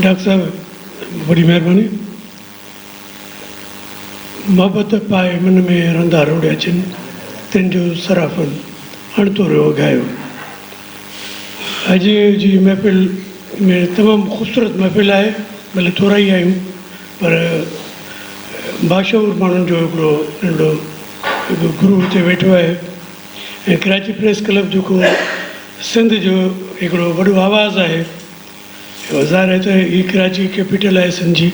Doctor صاحب وڏي مهرباني. محبت پائي من ۾ رندا روڙيا جن تن جو سرافن اڻتوريو اگهايو. اڄ جي محفل ۾ تمام خوبصورت محفل آهي ڀلي ٿورا ئي آهيون پر باشعور ماڻهن جو هڪڙو ننڍڙو گروه هتي ويٺو آهي. ڪراچي پريس ڪلب جيڪو سنڌ جو هڪڙو وڏو آواز آهي ظاهر آهي ته هي ڪراچي ڪيپيٽل آهي سنڌ جي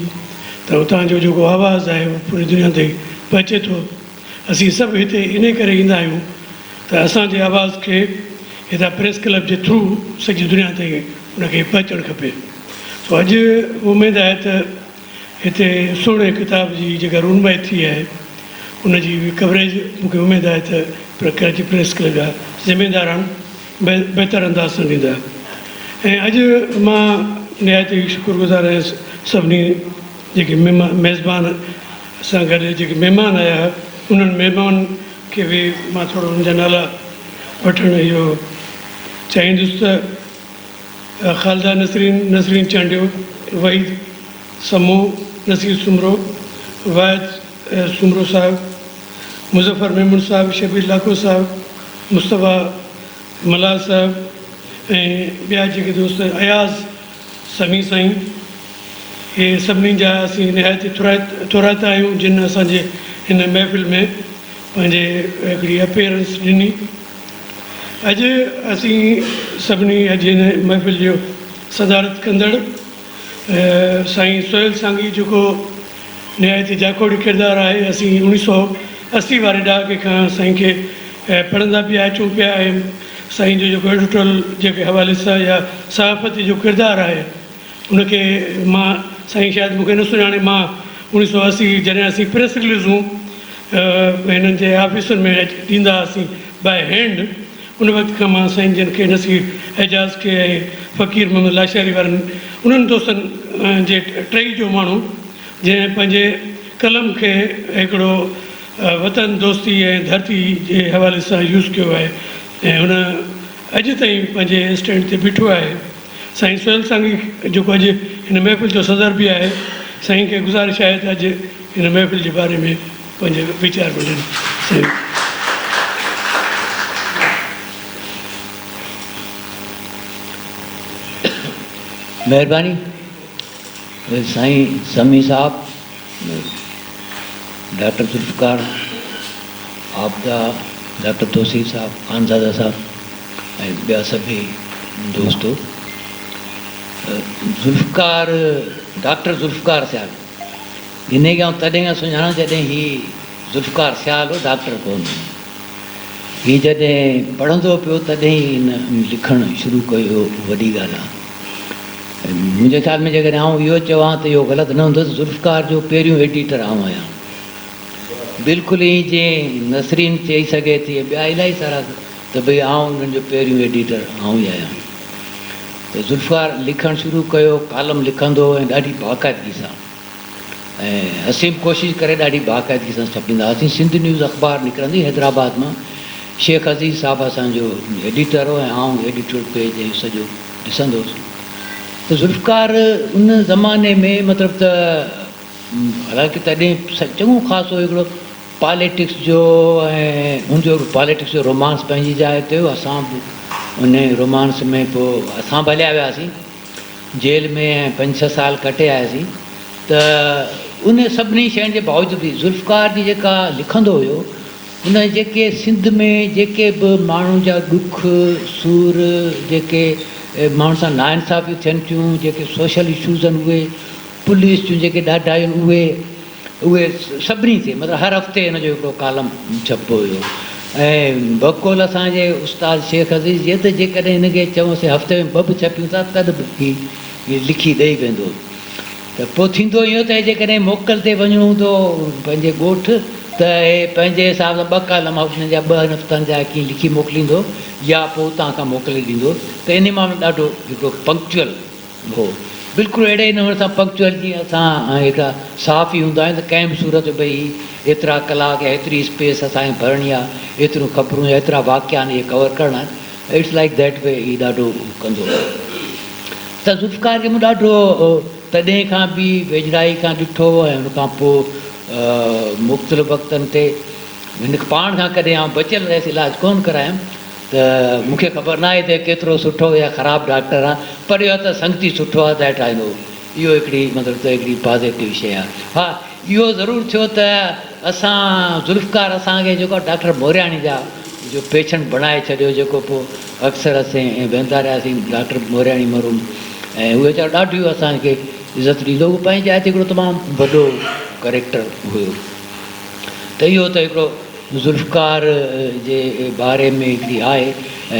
ته هتان جو جيڪو آواز آهي اهو پوري دنيا تائين پهچي ٿو اسين سڀ هتي انهي ڪري ايندا آهيون ته اسان جي آواز کي هتان پريس ڪلب جي ٿرو سڄي دنيا تائين ان کي پهچڻ کپي سو اڄ اميد آهي ته هتي سهڻي ڪتاب جي جيڪا رونمائي ٿي آهي ان جي به ڪوريج مون کي اميد آهي ته ڪراچي پريس ڪلب جا ذميداران بهتر انداز سان ڏيندا ۽ اڄ مان نهايت ئي شڪر گذار آهيان سڀني جيڪي ميزبان سان گڏ جيڪي مهمان آيا هئا انهن مهمانن کي به مان ٿورو انهن جا نالا وٺڻ اهو چاهيندس ته خالده نسرين، نسرين چانڊيو، وحيد سمون، نصير سومرو، واحد سومرو صاحب، مظفر ميمڻ صاحب، شبير لاکو صاحب، مصطفيٰ ملاح صاحب ۽ ٻيا جيڪي دوست اياز سمي سائين اهي سڀني جا اسين نهايت ئي ٿورائتا آهيون جن اسان جي هن محفل ۾ پنهنجي هڪڙي اپيئرنس ڏني. اڄ اسين سڀني اڄ هن محفل جو صدارت ڪندڙ سائين سهيل سانگي جيڪو نهايت ئي جاکوڙي ڪردار آهي اسين اوڻي سئو اسي واري ڏهاڪي کان سائين کي پڙهندا پيا اچون پيا ۽ سائين جو جيڪو ايڊوٽرل جي حوالي سان يا صحافت جو ڪردار آهي ان کي مان سائين شايد مون کي نه سڃاڻي مان اوڻيھ سؤ اسي جڏهن اسين پريس رليزون هنن جي آفيسن ۾ ڏيندا هئاسين بائي هينڊ ان وقت کان مان سائين جن کي نصير اعجاز کي ۽ فقير محمد لاشاري وارن انهن دوستن جي ٽهي جو ماڻهو جنهن پنهنجي قلم کي هڪڙو وطن دوستي ۽ ڌرتي جي حوالي سان يوز ڪيو آهي ۽ هن اڄ تائين پنهنجي اسٽينڊ تي بيٺو آهي. سائين سهيل سانگي جيڪو اڄ هن محفل جو صدر به آهي سائين کي گذارش آهي ته اڄ هن محفل جي باري ۾ پنهنجا ويچار به ڏين سائين. مهرباني سائين سمي صاحب. ڊاڪٽر ذوالفقار، عابده، ڊاڪٽر توسير صاحب، خانزاده صاحب ۽ ٻيا سڀيئي دوستو. ذوالفقار، ڊاڪٽر ذوالفقار سيال، جنھن کي آئون تڏھن کان سڃاڻان جڏھن ھي ذوالفقار سيال ھو، ڊاڪٽر ڪو نه ھو. ھي جڏھن پڙھندو پيو تڏھن ھي ھن لکڻ شروع ڪيو ھو، وڏي ڳالھه آ. منهنجي خيال ۾ جيڪڏهن آئون اهو چوان ته اهو غلط نه هوندو ته ذوالفقار جو پهريون ايڊيٽر آئون آهيان. بلڪل ائين جيئن نسرين چئي سگهي ٿي ۽ ٻيا الائي سارا ته ڀئي آئون انهن جو پهريون ايڊيٽر آئون ئي آهيان. ته ذوالفقار لکڻ شروع ڪيو، ڪالم لکندو هو ۽ ڏاڍي باقاعدگي سان. ۽ اسين به ڪوشش ڪري ڏاڍي باقاعدگي سان ڇپيندا هئاسين. سنڌ نيوز اخبار نڪرندي حيدرآباد مان شيخ عزيز صاحب اسان جو ايڊيٽر هو ۽ آئون ايڊيٽورل پيج ۽ سڄو ڏسندو هوس ته ذوالفقار ان زماني ۾ مطلب ته حالانڪه تڏهن چڱو خاصو هڪڙو پاليٽڪس جو ۽ هن جو پاليٽڪس جو رومانس پنهنجي جاء تي هو، اسان به ان رومانس ۾ پوء اسان به هليا وياسين. جيل ۾ پنج ڇهه سال ڪٽي آياسين ته ان سڀني شين جي باوجود به ذوالفقار جي جيڪا لکندو هيو ان جيڪي سنڌ ۾ جيڪي به ماڻهن جا ڏک سور جيڪي ماڻهن سان نا انصافيون ٿين ٿيون جيڪي سوشل اشوز آهن اهي پوليس جون جيڪي ڏاڍايون اهي اهي سڀني تي مطلب هر هفتي ان جو هڪڙو ڪالم ڇپبو هيو ۽ بقول اسان جي استاد شيخ عزيز جي ته جيڪڏهن هن کي چئونسين هفتي ۾ ٻه به ڇپيون ٿا تڏ به هي ائين لکي ڏئي ويندو هو ته پوء ٿيندو ائين هو ته جيڪڏهن موڪل تي وڃڻو هوندو هو پنهنجي ڳوٺ ته هي پنهنجي حساب سان ٻه ڪالم هفتن جا ٻهن هفتن جا ڪيئن لکي موڪليندو هو يا پوء اتان کان موڪلي ڏيندو هو ته انهي معاملي ڏاڍو هڪڙو پنڪچوئل هو. بلڪل اهڙي ئي نموني سان پنڪچوئل جيئن اسان هيڏا صحافي هوندا آهيون ته ڪنهن به صورت ۾ هي ايترا ڪلاڪ يا هيتري اسپيس اسان کي ڀرڻي آ، ايتريون خبرون يا ايترا واقعا آهن اهي ڪور ڪرڻا آهن. اٽس لائيڪ ديٽ وي هي ڏاڍو ڪندو هو. ته ذوالفقار کي مون ڏاڍو تڏهن کان به ويجهڙائي کان ڏٺو هو ۽ ان کان پوء مختلف وقتن تي هن پاڻ کان ڪڏهن آئون بچيل رهيس علاج ڪونه ڪرايم. ته مون کي خبر ناهي ته ڪيترو سٺو يا خراب ڊاڪٽر آ پر اهو ته سنگتي سٺو آ ذات آهي اهو اهو هڪڙي مطلب ته هڪڙي پازيٽو شيء آ ها اهو ضرور ٿيو ته اسان ذوالفقار اسان کي جيڪو ڊاڪٽر مورياڻي جا جو پيشنٽ بڻائي ڇڏيو جيڪو پو اڪثر اسين ويندا رهياسين ڊاڪٽر مورياڻي مرحوم ۽ اهو ويچارو ڏاڍيون اسان کي عزت ڏيندو هو پنهنجي جاء تي هڪڙو تمام وڏو ڪريڪٽر هيو ته اهو ته هڪڙو ذوالفقار جي باري ۾ هڪڙي آهه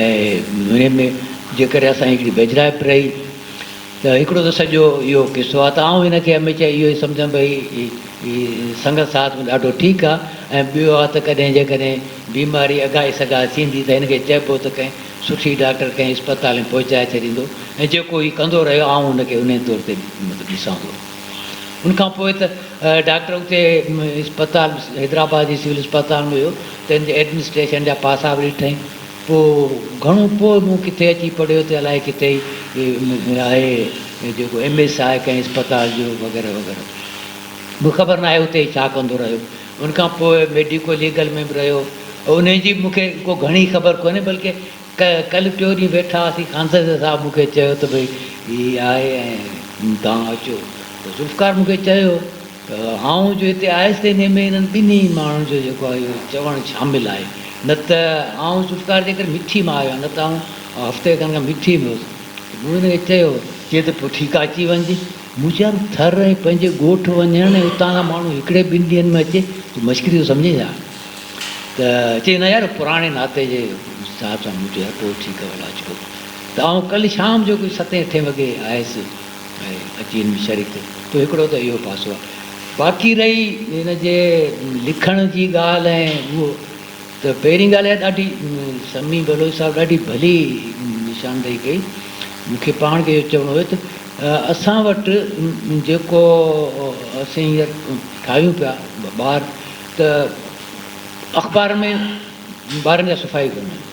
۽ هن ۾ جيڪڏهن اسان جي هڪڙي ويجهڙائپ رهي ته هڪڙو ته سڄو اهو قصو آهه ته آئون هن کي هميشه اهو ئي سمجهان ڀئي هي سنگت ساٿ ۾ ڏاڍو ٺيڪ آهه ۽ ٻيو آهه ته ڪڏهن جيڪڏهن بيماري اگهائي سگهائي ٿيندي ته هن کي چئبو ته ڪنهن سٺي ڊاڪٽر ڪنهن اسپتال ۾ پهچائي ڇڏيندو ۽ جيڪو هي ڪندو رهيو آئون هن کي انهي طور تي مطلب ڏسان ٿو. ان کان پوء ته ڊاڪٽر اتي اسپتال حيدرآباد جي سول اسپتال ۾ ويو ته ان جي ايڊمنسٽريشن جا پاسا به ڏٺائين پوء گهڻو پوء مون ڪٿي اچي پڙهيو ته الائي ڪٿي ئي آهي جيڪو ايم ايس آهي ڪنهن اسپتال جو وغيره وغيره مون خبر ناهي اتي هي ڇا ڪندو رهيو ان کان پوء ميڊيڪو ليگل ۾ به رهيو انهي جي مون کي ڪو گهڻي خبر ڪونهي بلڪه ڪل ٽيو ڏينهن ويٺا هئاسين، خانزاده صاحب مون کي چيو ته ڀئي هي آهي ۽ توهان اچو ته ذوالفقار مون کي چيو ته آئون جو هتي آيس ته انهيء ۾ انهن ٻنهي ماڻهن جو جيڪو آهي اهو چوڻ شامل آهي نه ته آئون ذوالفقار جي ڪري مٺي مان آيو آهيان نه ته آئون هفتي کن کان مٺي ۾ هوس ته مون هن کي چيو چي ته پوء ٺيڪ آهي اچي وڃج. مون چيم ٿر ۽ پنهنجي ڳوٺ وڃڻ ۽ اتان کان ماڻهو هڪڙي ٻن ڏينهن ۾ اچي تون مشڪري ٿو سمجهين ڇا؟ ته چيس نه يار پراڻي ناتي جي حساب سان مون چيو ھتو ٺيڪ آ ولا اچبو ته آئون ڪلھ شام جو ڪجھ ستين اٺين وڳي آيس ۽ اچي ھن ۾ شريڪ ٿيس تو ھڪڙو ته اھو پاسو آ باقي رھي ھن جي لکڻ جي ڳالھ ۽ اھو ته پھرين ڳالھ اھا ڏاڍي سمي بلوچ صاحب ڏاڍي ڀلي نشاندھي ڪئي مون کي پاڻ کي اھو چوڻو ھيو ته اسان وٽ جيڪو اسين ھينئر ٺاھيون پيا ٻار ته اخبار ۾ ٻارن جا صفا ئي ڪونه آهن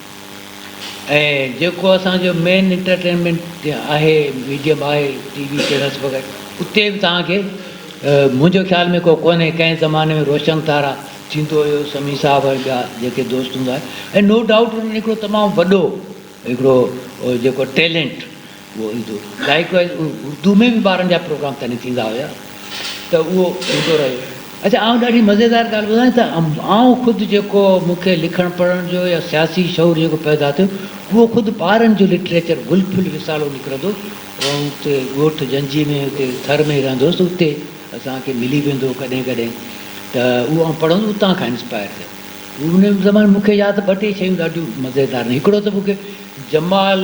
۽ جيڪو اسان جو مين انٽرٽينمينٽ آهي ميڊيم آهي ٽي وي چينلس وغيره اتي به تهان کي منهنجو خيال ۾ ڪو ڪونهي ڪنهن زماني ۾ روشن تارا ٿيندو هيو سمي صاحب ۽ ٻيا جيڪي دوست هوندا هيا ۽ نو ڊائوٽ انهن هڪڙو تمام وڏو هڪڙو جيڪو ٽيلنٽ اهو ايندو رهيو لائيڪ وائيز اردو ۾ به ٻارن جا پروگرام تڏهن ٿيندا هيا ته اهو ايندو رهيو اچا آئون ڏاڍي مزيدار ڳالهه ٻڌان ته آئون خود جيڪو مون کي لکڻ پڙهڻ جو يا سياسي شعور جيڪو پيدا ٿيو اهو خود ٻارن جو لٽريچر گل ڦل رسالو نڪرندو هو آئون اتي ڳوٺ جنجي ۾ اتي ٿر ۾ رهندو هوس اتي اسان کي ملي ويندو هو ڪڏهن ڪڏهن ته اهو آئون پڙهندو اتان کان انسپائر ٿيو ان زماني مون کي ياد ٻه ٽي شيون ڏاڍيون مزيدار آهن. هڪڙو ته مون کي جمال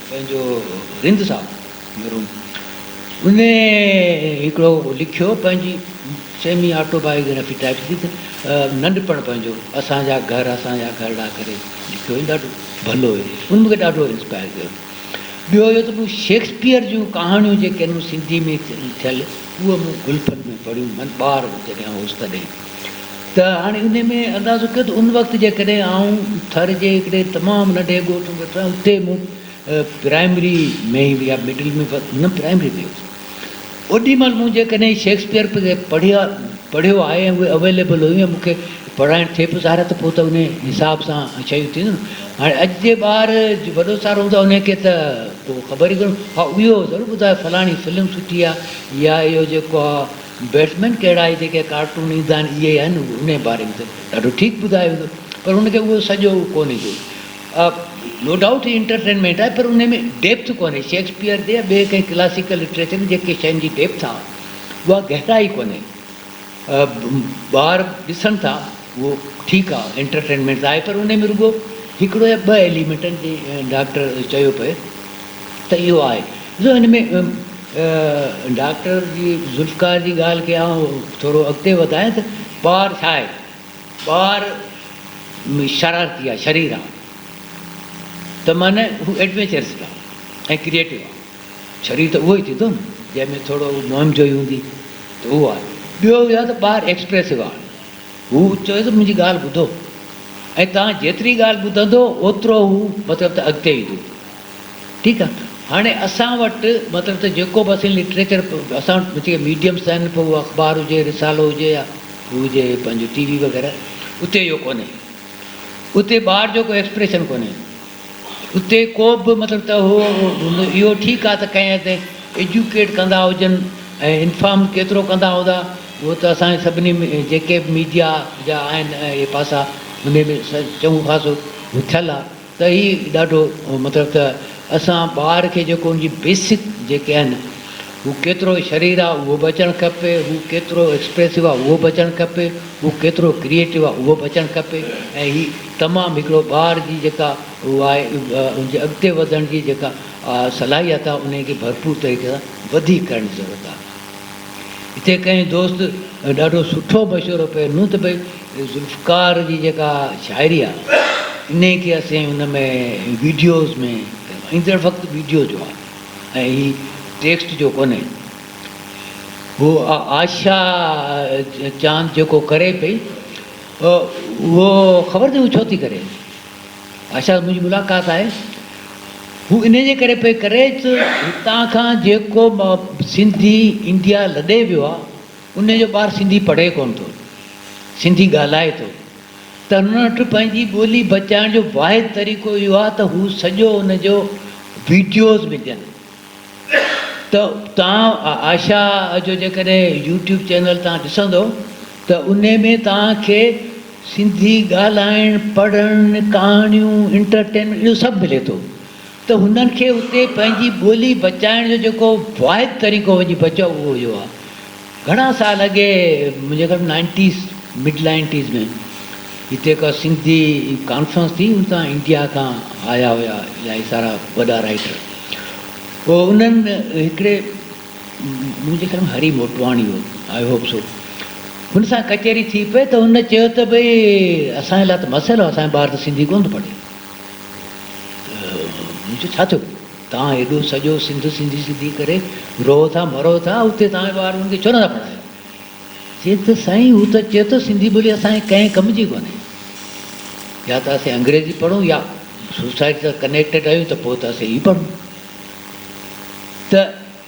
پنهنجو رند صاحب مرحوم ان هڪڙو لکيو پنهنجي سيمي آٽو بايوگرافي ٽائيپ ٿي ته ننڍپڻ پنهنجو اسان جا گهر اسان جا گهرڙا ڪري لکيو هيم ڏاڍو ڀلو هيم ان مون کي ڏاڍو انسپائر ڪيو. ٻيو اهو ته مون شيڪسپيئر جون ڪهاڻيون جيڪي هن سنڌي ۾ ٿيل اهي مون گلفن ۾ پڙهيون من ٻار جڏهن هوس تڏهن. ته هاڻي انهي ۾ اندازو ڪيو ته ان وقت جيڪڏهن آئون ٿر جي هڪڙي تمام ننڍي ڳوٺ ۾ ويٺو آهيان اتي مون پرائمري ۾ يا مڊل ۾ نه پرائمري ۾ هيس اوڏي مهل مون جيڪڏهن شيڪسپيئر پڙهيا پڙهيو آهي ۽ اهي اويليبل هيون ۽ مون کي پڙهائڻ ٿئي پيو سارا ته پوء ته انهي حساب سان شيون ٿينديون نه هاڻي اڄ جي ٻار وڏو سارو هوندو آهي انهي کي ته پوء خبر ئي ڪونه ها اهو ضرور ٻڌايو فلاڻي فلم سٺي آهي يا اهو جيڪو آهي بيٽسمين ڪهڙا آهي جيڪي ڪارٽون ايندا آهن اهي آهن انهي باري ۾ ته ڏاڍو ٺيڪ ٻڌايو ويندو پر ان کي اهو سڄو ڪونهي ڪو نو ڊائوٽ هي انٽرٽينمينٽ آهي پر انهي ۾ ڊيپٿ ڪونهي شيڪسپيئر جي يا ٻي ڪنهن ڪلاسيڪل لٽريچر ۾ جيڪي شين جي ڊيپٿ آهي اها گهرائي ڪونهي ٻار ڏسن ٿا اهو ٺيڪ آ انٽرٽينمينٽ ته آهي پر انهي ۾ رڳو هڪڙو يا ٻه ايليمينٽ آهن جيئن ڊاڪٽر چيو پئي ته اهو آهي ڏسو هن ۾ ڊاڪٽر جي ذوالفقار جي ڳالهه کي آئون ٿورو اڳتي وڌايان ته ٻار ڇا آهي ٻار شرارتي آهي شرير آهي ته معنيٰ هو ايڊوينچرس به آهي ۽ ڪريئيٽو آهي شرير ته اهو ئي ٿيندو نه جنهن ۾ ٿورو مهم جوئي هوندي ته اهو آهي ٻيو اهو آهي ته ٻار ايڪسپريسو آهي هو چيو ته منهنجي ڳالهه ٻڌو ۽ توهان جيتري ڳالهه ٻڌندو اوترو هو مطلب ته اڳتي ايندو. ٺيڪ آ. هاڻي اسان وٽ مطلب ته جيڪو به اسين لٽريچر اسان وٽ جيڪي ميڊيمس آهن پوء اهو اخبار هجي رسالو هجي يا هو هجي پنهنجو ٽي وي وغيره اتي اهو ڪونهي. اتي ٻار جو ڪو ايڪسپريشن ڪونهي. اتي ڪو به مطلب ته هو اهو ٺيڪ آهي ته ڪنهن حد تائين ايجوڪيٽ ڪندا هجن ۽ انفارم ڪيترو ڪندا هوندا اهو ته اسان سڀني جيڪي به ميڊيا جا آهن اهي پاسا انهي ۾ چڱو خاصو ٿيل آهي ته هي ڏاڍو مطلب ته اسان ٻار کي جيڪو ان جي بيسڪ جيڪي آهن هو ڪيترو شرير آ اهو به اچڻ کپي، هو ڪيترو ايڪسپريسو آ اهو به اچڻ کپي، هو ڪيترو ڪريئيٽو آ اهو به اچڻ کپي ۽ هي تمام هڪڙو ٻار جي جيڪا هو آهي ان جي اڳتي وڌڻ جي جيڪا صلاحيت آ انهي کي ڀرپور طريقي سان وڌيڪ ڪرڻ جي ضرورت آ. هتي ڪنهن دوست ڏاڍو سٺو مشورو پئي ڏنو ته ڀئي ذوالفقار جي جيڪا شاعري آ انهي کي اسين ان ۾ ويڊيوز ۾ ڪيون ايندڙ وقت ويڊيو جو آ. ۽ هي ٽيڪسٽ جو ڪونهي. هو آشا چاند جيڪو ڪري پئي اهو خبر اٿئي هو ڇو ٿي ڪري. آشا سان منهنجي ملاقات آهي. هو انهي جي ڪري پئي ڪري ته هتان کان جيڪو سنڌي انڊيا لڏي ويو آهي انهي جو ٻار سنڌي پڙهي ڪونه ٿو. سنڌي ڳالهائي ٿو. ترنٽ پنهنجي ٻولي بچائڻ جو واحد طريقو اهو آهي ته هو سڄو ان جو ويڊيوز وجهن ته توهان آشا جو جيڪڏهن يوٽيوب چينل توهان ڏسندو ته ان ۾ توهان کي سنڌي ڳالهائڻ پڙهڻ ڪهاڻيون انٽرٽينمينٽ اهو سڀ ملي ٿو ته هنن کي اتي پنهنجي ٻولي بچائڻ جو جيڪو واحد طريقو وڃي بچيو اهو اهو آهي گهڻا سال اڳي منهنجي خيال ۾ نائنٽيز مڊ نائنٽيز ۾ هتي هڪ سنڌي ڪانفرنس ٿي ان تان انڊيا کان آيا هيا الاهي سارا وڏا رائيٽر پوء انهن هڪڙي منهنجي خيال ۾ هري موٽواڻي هو آئي هوپ سو هن سان ڪچهري ٿي پئي ته هن چيو ته ڀئي اسان جي لاء ته مسئلو اسان جا ٻار ته سنڌي ڪونه ٿو پڙهي ته مون چيو ڇا ٿيو توهان هيڏو سڄو سنڌ سنڌي سنڌي ڪري روئو ٿا مرو ٿا اتي توهان ٻار انهن کي ڇو نٿا پڙهايو. چي ته سائين هو ته چئي ٿو سنڌي ٻولي اسان جي ڪنهن ڪم جي ڪونهي يا ته اسين انگريزي پڙهون يا سوسائٽي سان ڪنيڪٽيڊ آهيون ته پوء ته اسين هي پڙهون ته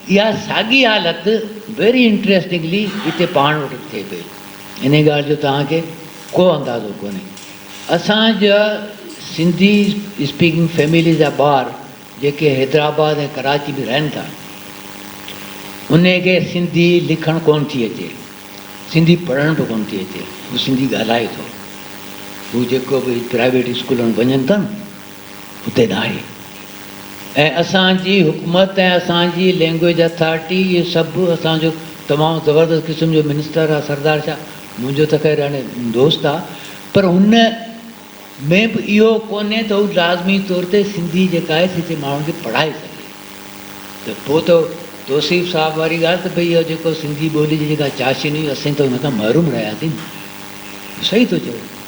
اها ساڳي حالت ويري انٽريسٽنگلي هتي پاڻ وٽ به ٿئي پئي. انهيء ڳالهه جو توهان کي ڪو اندازو ڪونهي. اسان جا سنڌي اسپيڪنگ فيمليز جا ٻار جيڪي حيدرآباد ۽ ڪراچي ۾ رهن ٿا، انهن کي سنڌي لکڻ ڪونه ٿي اچي، سنڌي پڙهڻ به ڪونه ٿي اچي. هو سنڌي ڳالهائي ٿو. هو جيڪو به پرائيويٽ اسڪولن ۾ وڃن ٿا نه، اتي ناهي ۽ اسان جي حڪومت ۽ اسان جي لينگويج اٿارٽي اهو سڀ اسان جو تمام زبردست قسم جو منسٽر آ سردار شاهه منهنجو ته خير هاڻي دوست آ پر هن ۾ به اهو ڪونهي ته هو لازمي طور تي سنڌي جيڪا آهي سي هتي ماڻهن کي پڙهائي سگهي ته پوء ته توصيف صاحب واري ڳالهه ته ڀئي اهو جيڪو سنڌي ٻولي جي جيڪا چاشني هئي اسين ته ان کان محروم رهياسين صحيح ٿو چئو.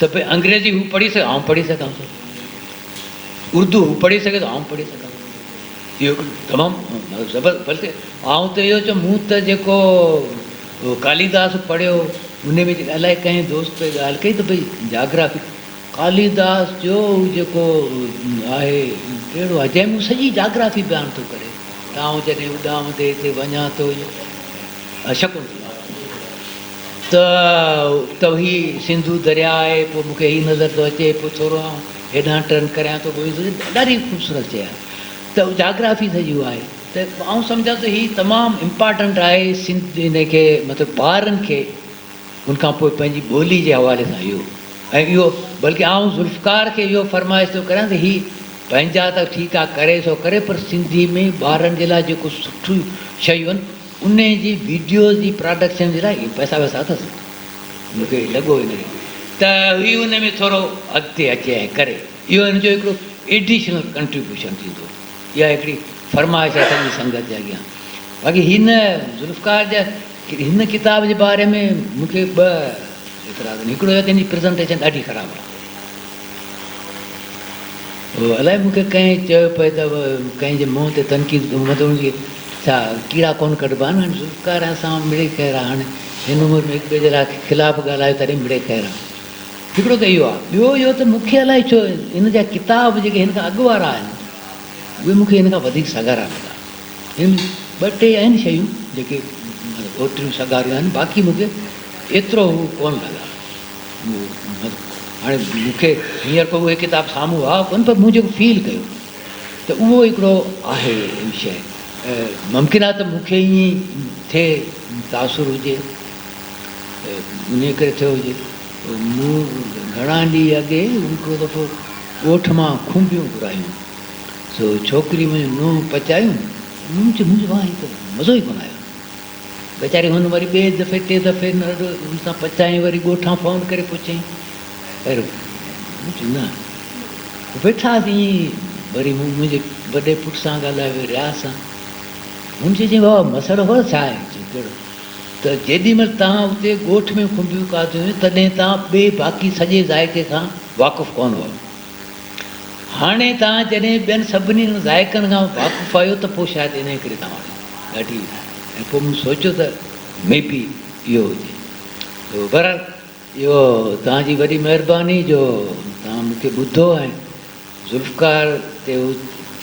ته پوء انگريزي هو پڙهي سگهي آئون پڙهي سگهان ٿو، اردو هو پڙهي سگهي ٿو آئون پڙهي سگهان ٿو. اهو هڪ تمام زبر بلڪه آئون ته اهو چوم مون ته جيڪو ڪاليداس پڙهيو ان ۾ جيڪي الائي ڪنهن دوست ڳالهه ڪئي ته ڀئي جاگرافي ڪاليداس جو هو جيڪو آهي ڪهڙو آهي جنهن ۾ هو سڄي جاگرافي بيان ٿو ڪري ته آئون جڏهن اڏامندي هتي وڃان ٿو شڪونتلا ته ته هي سنڌو درياء آهي پوء مونکي هي نظر ٿو اچي پوء ٿورو آئون هيڏانهن ٽرن ڪريان ٿو پوء ڏاڍي خوبصورت شيء آهي ته جاگرافي سڄي اها آهي ته آئون سمجهان ٿو هي تمام امپارٽنٽ آهي سنڌ ان کي مطلب ٻارن کي ان کان پوء پنهنجي ٻولي جي حوالي سان اهو ۽ اهو بلڪه آئون ذوالفقار کي اهو فرمائش ٿو ڪريان ته هي پنهنجا ته ٺيڪ آهي ڪري سو ڪري پر سنڌي ۾ ٻارن جي لاء جيڪو سٺيون شيون انهي جي ويڊيوز جي پراڊڪشن جي لاء اهي پئسا وئسا اٿس؟ مون کي لڳو ئي ناهي ته هي انهي ۾ ٿورو اڳتي اچي ۽ ڪري. اهو هن جو هڪڙو ايڊيشنل ڪنٽريبيوشن ٿيندو. اها هڪڙي فرمائش آهي سڄي سنگت جي اڳيان. باقي هن ذوالفقار جا هن ڪتاب جي باري ۾ مون کي ٻه اعتراض آهن. هڪڙو هي ته هن جي پريزنٽيشن ڏاڍي خراب آهي. الائي مون کي ڪنهن چيو پئي ته ڪنهن جي منهن تي تنقيد ڪيون مطلب ان جي ڇا ڪيڙا ڪونه ڪڍبا آهن هاڻي سرڪار اسان مان مڙئي خير آهي هاڻي هن عمر ۾ هڪ ٻئي جي خلاف ڳالهايو تڏهن مڙئي خير آهي هڪڙو ته اهو آهي ٻيو اهو ته مون کي الائي ڇو هن جا ڪتاب جيڪي هن کان اڳ وارا آهن اهي مون کي هن کان وڌيڪ سگهارا لڳا هن ۾ ٻه ٽي آهن شيون جيڪي اوتريون سگهاريون آهن باقي مون کي ايترو هو ڪونه لڳا هاڻي مون کي هينئر ڪو اهي ڪتاب سامهون آئو ڪونه پر مون جيڪو فيل ڪيو ته اهو هڪڙو آهي شيء ممڪن آهي ته مون کي ائين ئي ٿئي تاثر هجي انهيء ڪري ٿيو هجي مون گهڻا ڏينهن اڳي هڪڙو دفعو ڳوٺ مان کنڀيون گهرايون سو ڇوڪري منهنجي نونهن پچايون مون چيو مزو ئي ڪونه آيو ويچاري هن وري ٻئي دفعي ٽي دفعي نه رڏو هن سان پچائين وري ڳوٺان فون ڪري پڇيائين پر چيو نه ويٺاس ائين ئي وري مون منهنجي وڏي پٽ سان ڳالهايو وري رياض سان هن چيو چيائين بابا مسئلو خبر ڇا آهي چيو ڪهڙو ته جيڏي مهل توهان اتي ڳوٺ ۾ کنڀيون کاڌيون هيون تڏهن توهان ٻئي باقي سڄي ذائقي کان واقف ڪونه هئا هاڻي توهان جڏهن ٻين سڀني انهن ذائقن کان واقف آهيو ته پوء شايد انهيء ڪري توهان وٽ ڳاٽي به ناهي ۽ پوء مون سوچيو ته مي بي اهو هجي. بهرحال اهو توهان جي وڏي مهرباني جو توهان مون کي ٻڌو ۽ ذوالفقار تي هو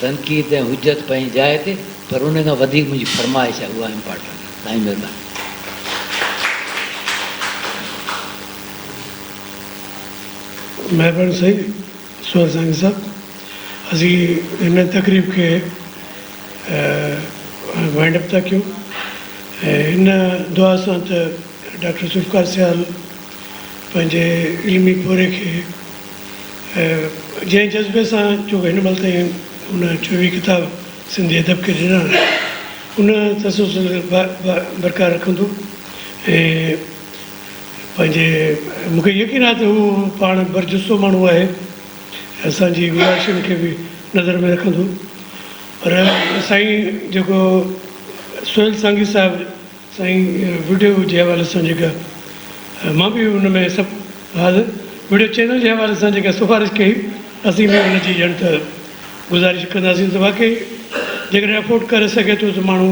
تنقيد ۽ حجت پنهنجي جاء تي پر انهيء کان وڌيڪ منهنجي فرمائش آهي اها امپارٽنٽ آهي. توهان جي مهرباني. مھربان سائين سوھيل سانگي صاحب اسين ھن تقريب کي وائنڊ اپ ٿا ڪيون ۽ ان دعا سان ته ڊاڪٽر ذوالفقار سيال پنھنجي علمي پورھئي کي جنھن جذبي سان جو ڪو ھن مھل تائين ان چوويھ ڪتاب سنڌي ادب کي ڏنا آھن ان تسلسل برقرار رکندو ۽ پنهنجي مون کي يقين آهي ته هو پاڻ برجستو ماڻهو آهي ۽ اسان جي گذارشن کي به نظر ۾ رکندو پر سائين جيڪو سهيل سانگي صاحب سائين وڊيو جي حوالي سان جيڪا مان به ان ۾ سب حال وڊيو چينل جي حوالي سان جيڪا سفارش ڪئي اسين به ان جي ڄڻ ته گذارش ڪنداسين ته واقعي جيڪڏهن افورڊ ڪري سگهي ٿو ته ماڻهو